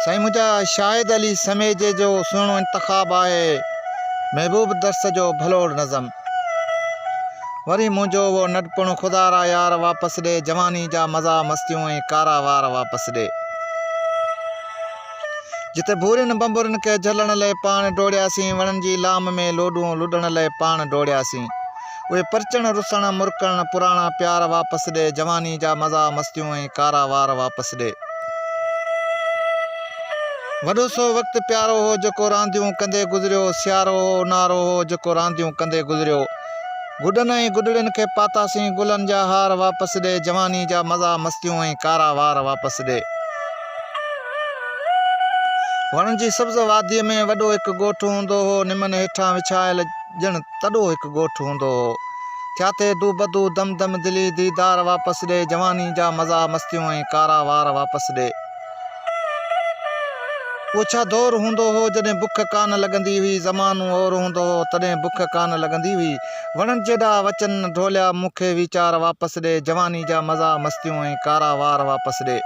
سائين منهنجا شاهد علي سميجي جو سهڻو انتخاب آهي محبوب درس جو ڀلوڙ نظم وري منهنجو اهو ننڍپڻ خدا را يار واپس ڏي جواني جا مزا مستيون ۽ ڪارا وار واپس ڏي جتي ڀورين بنبرن کي جهلڻ لئي پاڻ ڊوڙياسين وڻن جي لام ۾ لوڏون لڏڻ لئي پاڻ ڊوڙياسين اهي پرچڻ رسڻ مرڪڻ پراڻا پيار واپس ڏي جواني جا مزا مستيون ۽ ڪارا وار واپس ڏي وڏو سو وقت پيارو هو جيڪو رانديون ڪندي گذريو سيارو هو اونهارو هو جيڪو رانديون ڪندي گذريو گڏن ۽ گڏڙين کي پاتاسين گلن جا هار واپس ڏي جواني جا مزا مستيون ۽ ڪارا وار واپس ڏي وڻن جي سبز واديء ۾ وڏو هڪ ڳوٺ هوندو هو نمن هيٺان وڇايل ڄڻ تڏو هڪ ڳوٺ هوندو هو. ٿياٿي دو بدو دم دم دلي ديدار واپس ڏي جواني جا مزا مستيون ۽ ڪارا وار واپس ڏي. اهو ڇا دور هوندو هو جڏهن بک ڪانه لڳندي هئي زمانو اور هوندو هو تڏهن بک ڪانه لڳندي هئي وڻن جيڏا وچن ڍوليا مون کي ويچار واپس ڏي جواني جا مزا مستيون ۽ ڪارا وار واپس ڏي.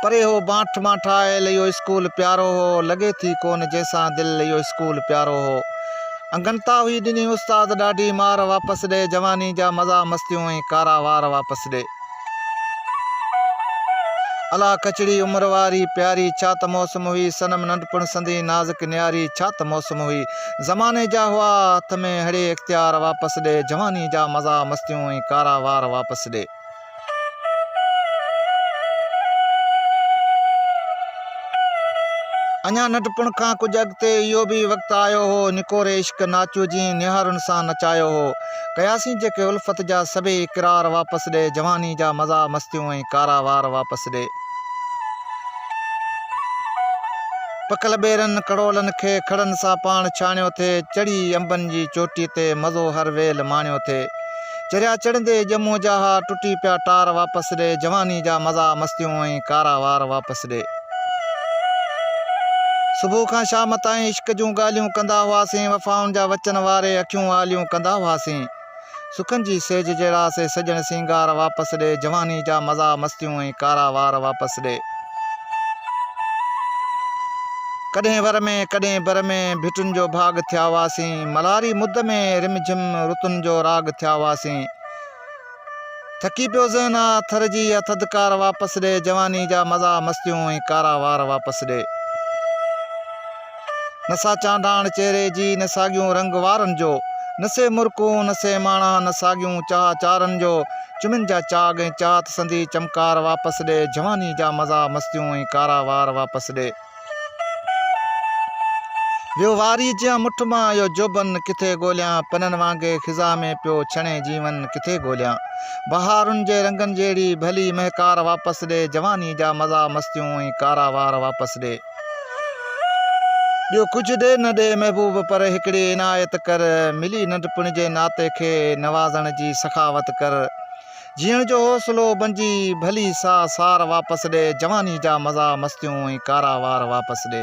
پري هو بانٺ مان ٺاهيل اهو اسڪول پيارو هو لڳي ٿي ڪونه جنهن سان دل اهو اسڪول پيارو هو انگنتا هئي ڏني استاد ڏاڍي مار واپس ڏي جواني جا مزا مستيون ۽ ڪارا وار واپس ڏي الا ڪچڙي عمر واري پياري ڇا ته موسم هئي صنم ننڍپڻ سندي نازڪ نياري ڇا ته موسم هئي زماني جا هئا هٿ ۾ هڙي اختيار واپس ڏي جواني جا مزا مستيون ۽ ڪارا وار واپس ڏي. اڃا ننڍپڻ کان ڪجهه اڳتي اهو به وقت آيو هو، نڪوري عشق ناچو جيئن نهارن سان نچايو هو. ڪياسين جيڪي الفت جا سڀيئي اقرار واپس ڏي، جواني جا مزا مستيون ۽ ڪارا وار واپس ڏي. پکل ٻيرن ڪڙولن کي کڙن سان پاڻ ڇاڻيو ٿي، چڙهي انبن جي چوٽي تي مزو هر ويل ماڻيو ٿي. چريا چڙهندي ڄمون جا ها ٽٽي پيا ٽار واپس ڏي جواني جا مزا مستيون ۽ ڪارا وار واپس ڏي صبح کان شام تائين عشق جون ڳالهيون ڪندا هئاسين وفائن جا وچن واري اکيون آليون ڪندا هئاسين سکن جي سيج جهڙا سي سڄڻ سينگار واپس ڏي جواني جا مزا مستيون ۽ ڪارا وار واپس ڏي. ڪڏهن ور ۾، ڪڏهن بر ۾، ڀٽن جو ڀاڳ ٿيا هئاسين. ملهاري مد ۾، رم جھم رتن جو راڳ ٿيا هئاسين. ٿڪي پيو ذهن آ، ٿر جي اها ٿڌڪار واپس ڏي، جواني جا مزا مستيون ۽ ڪارا وار واپس ڏي. نه سا چانڊاڻ چهري جي، نه ساڳيون رنگ وارن جو. نه سي مرڪون، نه سي ماڻا، نه ساڳيون چاهه چارن جو. چمن جا چاڳ ۽ چات سندي چمڪار واپس ڏي، جواني جا مزا مستيون ۽ ڪارا وار واپس ڏي. ويو واريء جيان مٺ مان اهو جوڀن ڪٿي ڳوليان، پنن وانگي خزان ۾ پيو ڇڻي جيون ڪٿي ڳوليان. بهارن جي رنگن جهڙي ڀلي مهڪار واپس ڏي، جواني جا مزا مستيون ۽ ڪارا وار واپس ڏي. ٻيو ڪجهه ڏي نه ڏي محبوب پر هڪڙي عنايت ڪر ملي ننڍپڻ جي ناتي کي نوازڻ جي سخاوت ڪر جيئڻ جو حوصلو بنجي ڀلي سا سار واپس ڏي جواني جا مزا مستيون ۽ ڪارا وار واپس ڏي.